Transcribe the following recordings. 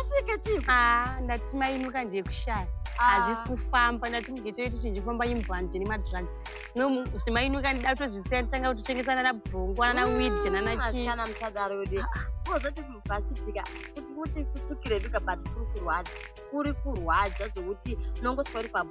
asvike chii ah ndati mainuka ndiye kushaya ah. hazvisi kufamba ndati mugete wedu chinji kufamba imbwanje nemadrugs no semainuka ndida kutozvisiya nditanga kutotengesa nana brongo nana mm, wid nana chiisikana musadaro yode ah, ah. ozoti vasitika kuti kutukire vika but kuri kurwadza kuri kurwadza zvokuti unongoswa uri pabho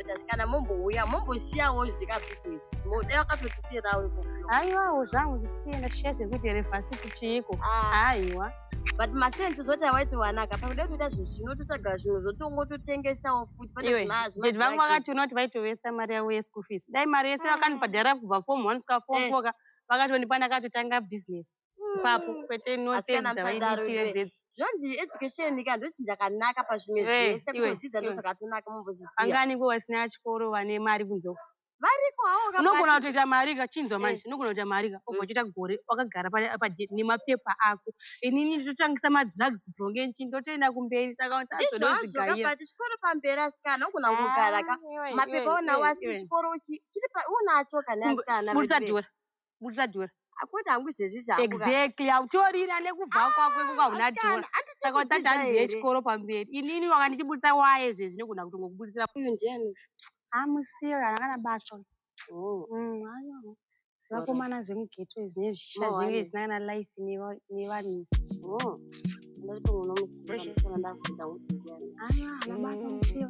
Brothers, kana mombouya mombosiyawo zvika business moda wakatotitirao iko haiwawo zvangu ndisiye ndashiya zvekuti elevansiti chiiko haiwa ah. but masense zoti awaiti wanaka pakuda kutoita zvinhu zvino totsvaga zvinhu zvotongototengesawo futi paneazvimati vangu vakati unoti vaitovesta mari yavo yeschool fees dai mari yese ah. vakanibhadhara kubva form one kusvika form eh. four ka vakatondipa ndakatotanga business ipapo kwete inoteedzaitiyedzedza zvonzi education ika ndochinja kanaka pazvimwe zvese kudzidza ndochakatonaka mumbozvisiya angani ko vasina chikoro vane mari kunze variko hawo unogona kutoita mari ka chinzwa manje unogona kuita mari ka obva uchiita gore wakagara nemapepa ako inini nditotangisa madrugs brongenchi ndotoenda kumberi saka azodozvigaira chikoro pamberi asikana unogona kugara ka mapepa onawo asi chikoro unacho kana asikana budisa dhora akwete hangu izvezvi zvangu exactly hautorina nekubva ah, kwako ikuka hauna dhora saka utsati hanzi yechikoro pamberi inini wanga ndichibudisa waye zvezvi nekugona kuti ngokubudisira uyu ndiani amusira ah, akana basa oh. mm, zvivakomana zvemugeto izvi nezvishisha oh, zvinenge zvisina kana life nevanhu izvi oh. ndatomunomusiaa ana basa musira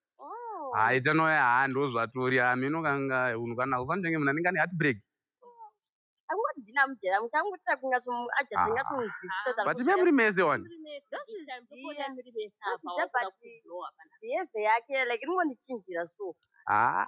oh. hayi ah, chanoya ha ah, ndozvatori ha ah, mino kanga unhu kana ufanitenge munhu anenge ane heartbreak akungozina mujera mukangoita kunga ajazinga kunzwisisa but me muri mese one behavior yake like inongondichinjira so ha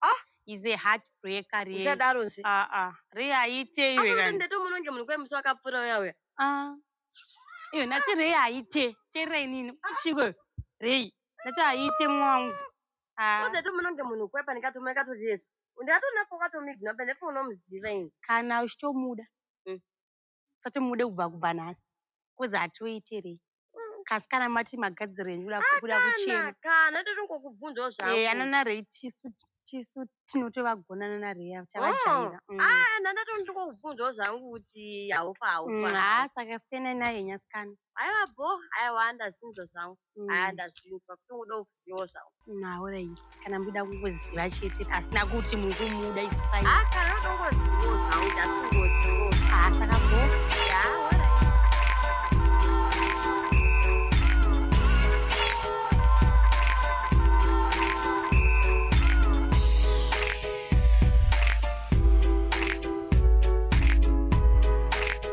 ah is a heart breaker re usadaro nse ah ah re aite iwe kana ndeto muno nge munhu kwemusi wakapfura uya uya ah iyo nati re aite chera inini chiko re nati aite mwangu ah ndeto muno nge munhu kwepa ndikatuma ikato jesu ndikatona pokato migna pende pfuno muziva ini kana uchitomuda mm. musati mude kubva kubva nhasi kuzi hatiuitirei kasi kana mati magadziro enyu kuda kuchemkana totongokubvunzawo zvaeya nana rei tisu tisu tinotovagonana narei tavajaira oh, mm. ah, nana tondikokubvunzawo zvangu kuti haufa haufa mm, haa saka siyanai naye nyasikana aiwa bo aiwa andasinza zvangu haa mm. ndaziva kuti uda kuziva zvawo naorit kana muda kungoziva chete asina kuti muri kumuda ispai haa kana uda kungoziva zvawo ndakungoziva haa saka go haa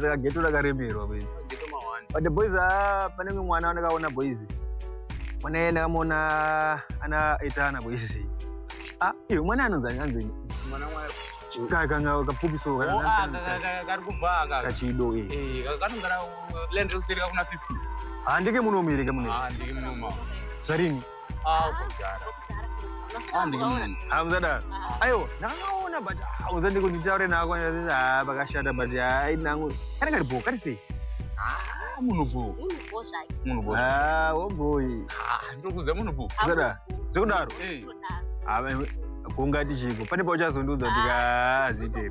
saka geto rakaremerwa but the boys ah, pane mwe mwana wandakaona boys mwana iye ndakamuona ana etana boys ah, iyo mwana anonzani anzini kakanga kapfupi so kachido handike munomuereka mune zvarini Ah, kuzara. Ah, ndikimuni. Ah, kuzada. Ayo, ndakaona but ah, kuzada ndiko nditaure nako ndikati ah pakashata but ah inangu. Kana kari bo, kari sei? Ah, munhu bo. Munhu bo. Ah, wo boy. Ah, ndinokuudza munhu bo. Kuzada. Zvekudaro. Eh. Ah, kungati chiko. Pane pauchazondiudza kuti ah zvitere.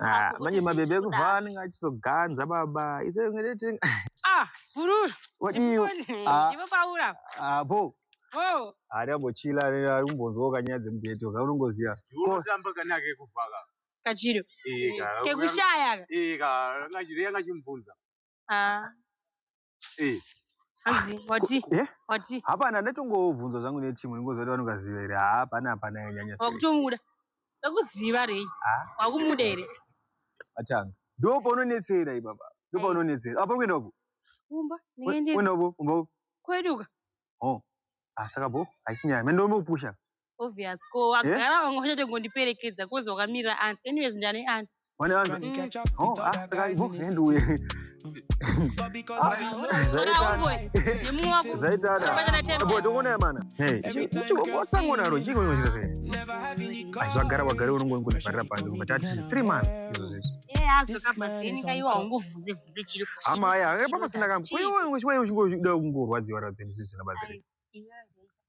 Ah, manje mabebe ekubva anenge achizoganza baba iso ah, fururu wadiwo apo ari ambochila ari kumbonzwawo kanyaya dzemubheto ka unongoziva kachiro kekushaya ka Ah. Eh. Hanzi wati Eh? wati Hapana ndatongovhunza zvangu neteam ndingoziva kuti vanogaziva here. Haa hapana hapana yanyanya. straight. wakutongura. Wakuziva rei? Ah. Wakumuda here? Atanga. Ndipo paunonetsera ipapa. Ndipo Eh. paunonetsera. Apa kuenda uko. Kumba Kuenda ndingaende uko. Kumba uko. kweduka. oh ah saka bho haisi nyaya mene ndombo pusha obvious ko wagara wanga uchati ngondiperekedza kozi wakamirira ans anyways ndane ans wane ans oh ah saka bho hand uye zvaitadabodongonaya mana osangonaro chii koinochita sei aizvagara wagare unongongonivharira panze kubatati three months izvozvizvo amaya eh, papa sina kambo wewe uchingoda kungorwadziwa radzi ndisisina bazire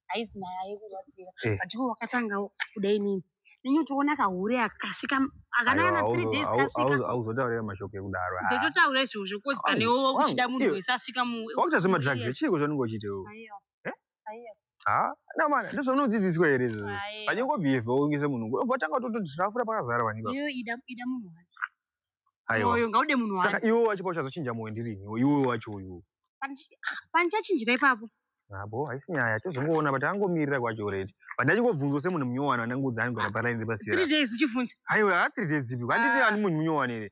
haizi maya yekurwadziwa eh. but iwe wakatanga kuda inini nenyu toona kahure akasvika akanana three days kasvika auzotaurira mashoko ekudaro ndototaura izvozvo kozi kanewo uchida munhu wese asvika mu wakuchazima drugs chii kuzvanenge uchiitewo Namana ndizvo unodzidziswa here izvozvo? Panyoko behave waongese munhu ngo. Vatanga tototafura pakazara vanhu. Iyo ida ida munhu wani. Aiwa. Moyo ngaude munhu wani. Saka iwe wacho pauchazochinja moyo ndiri ini. Iwe wacho uyu. Panichinjira ipapo. Abo haisi nyaya tozongoona but angomirira kwacho already. But ndachingobvunzwa semunhu munyowani anangoudza anhu kuti palaini repasira. 3 days uchivhunza. Aiwa 3 days dzipi. Handiti ani munhu munyowani here?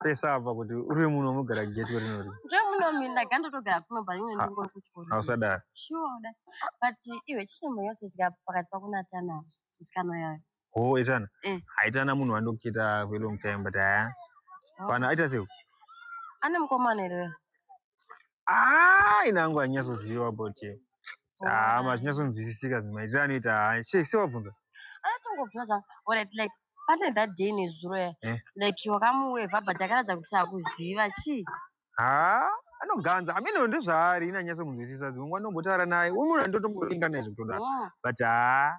pesa apa kuti uri munhu unogara gate uri nori nje muno mimi ndagandotogara kuno but imwe ndingo kuchikoro hausadaro sure da but iwe chimwe yose tika pakati pako na tana musikana yayo ho oh, etana eh. haitana munhu wandokita for long time but aya oh. pana aita sei ane mukomana here ah ina yangu hanyatsoziva about you ah mazvinyatsonzwisisika zvimwe maitira anoita hai sei sei wabvunza anatongobvira zvangu orit like pane that day nezuro ya eh? like wakamuwevha but akaratidza kuti akuziva chii haa anoganza amene ndozvaari ina nyatsomunzwisisa dzimwe nguva ndombotaura naye umunhu andotomboringa naye zvekutoda but haa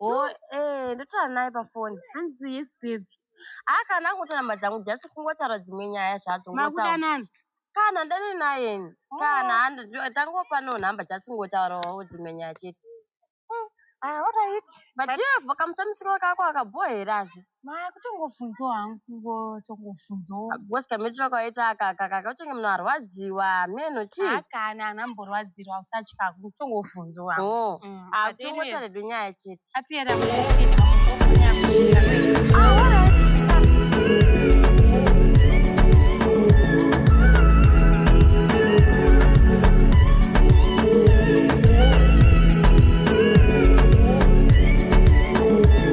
Oh, eh, ndotaura naye pafoni. Hanzi yes babe. Ah, kana angotora namba dzangu just kungotaura dzimwe nyaya zvadzo. Makuda ngotaura. nani? Kana ndani naye. ini. Kana handi- ndo- tangopa no namba just kungotaurawo dzimwe nyaya chete. Ah, all right. But But- iye kamutambisikiro kako akabohera asi. Maya kutongofunzwa hangu kungotongofunzwa. Because kamitiro kawaita aka aka kakatenge munhu arwadziwa meno chii? Haa kana anhu amborwadzirwa usatya kutongofunzwa. Oh. Mm, Ah, but anyways, tongotaridwa nyaya chete. apera mukutsina, mukutsina, Ah, all right. Stop.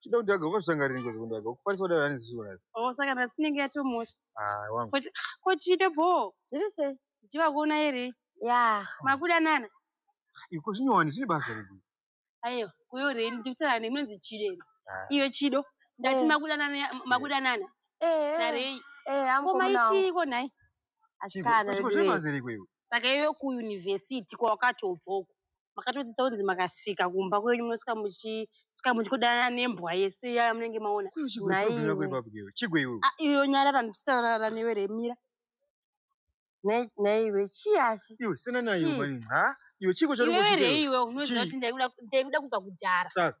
Chida kuti ago kusanga rini kuti kundago. Kufarisa kudara nani zisho nayo. Oh saka na sinenge yatomosha. Ah wangu. Kuti ko chide bo. Zviri sei? Ndiva kuona ere? Yeah. Makuda nana. Iko zvinyowani zvine basa redu. Ayo, kuyo reni ndikutara nemunzi chide. Ah. Iyo chido. Ndati eh. makuda nana makuda nana. Eh. Narei. Eh, amko mna. Ko maiti ko nai. Ashikana. Chiko zvine basa redu. Saka iyo ku university kwa wakatobvoko. makatodzidzisa kunzi makasvika kumba kwenyu munosvika muchisvika muchikudanana nembwa yese iya yamunenge maona iyo nyara randitaurara newe remira naiwe chii asi iwe sina naiwe mani ha iwe chiko chari kuchitei iwe unoziva kuti ndaikuda ndaikuda kubva kudhara saka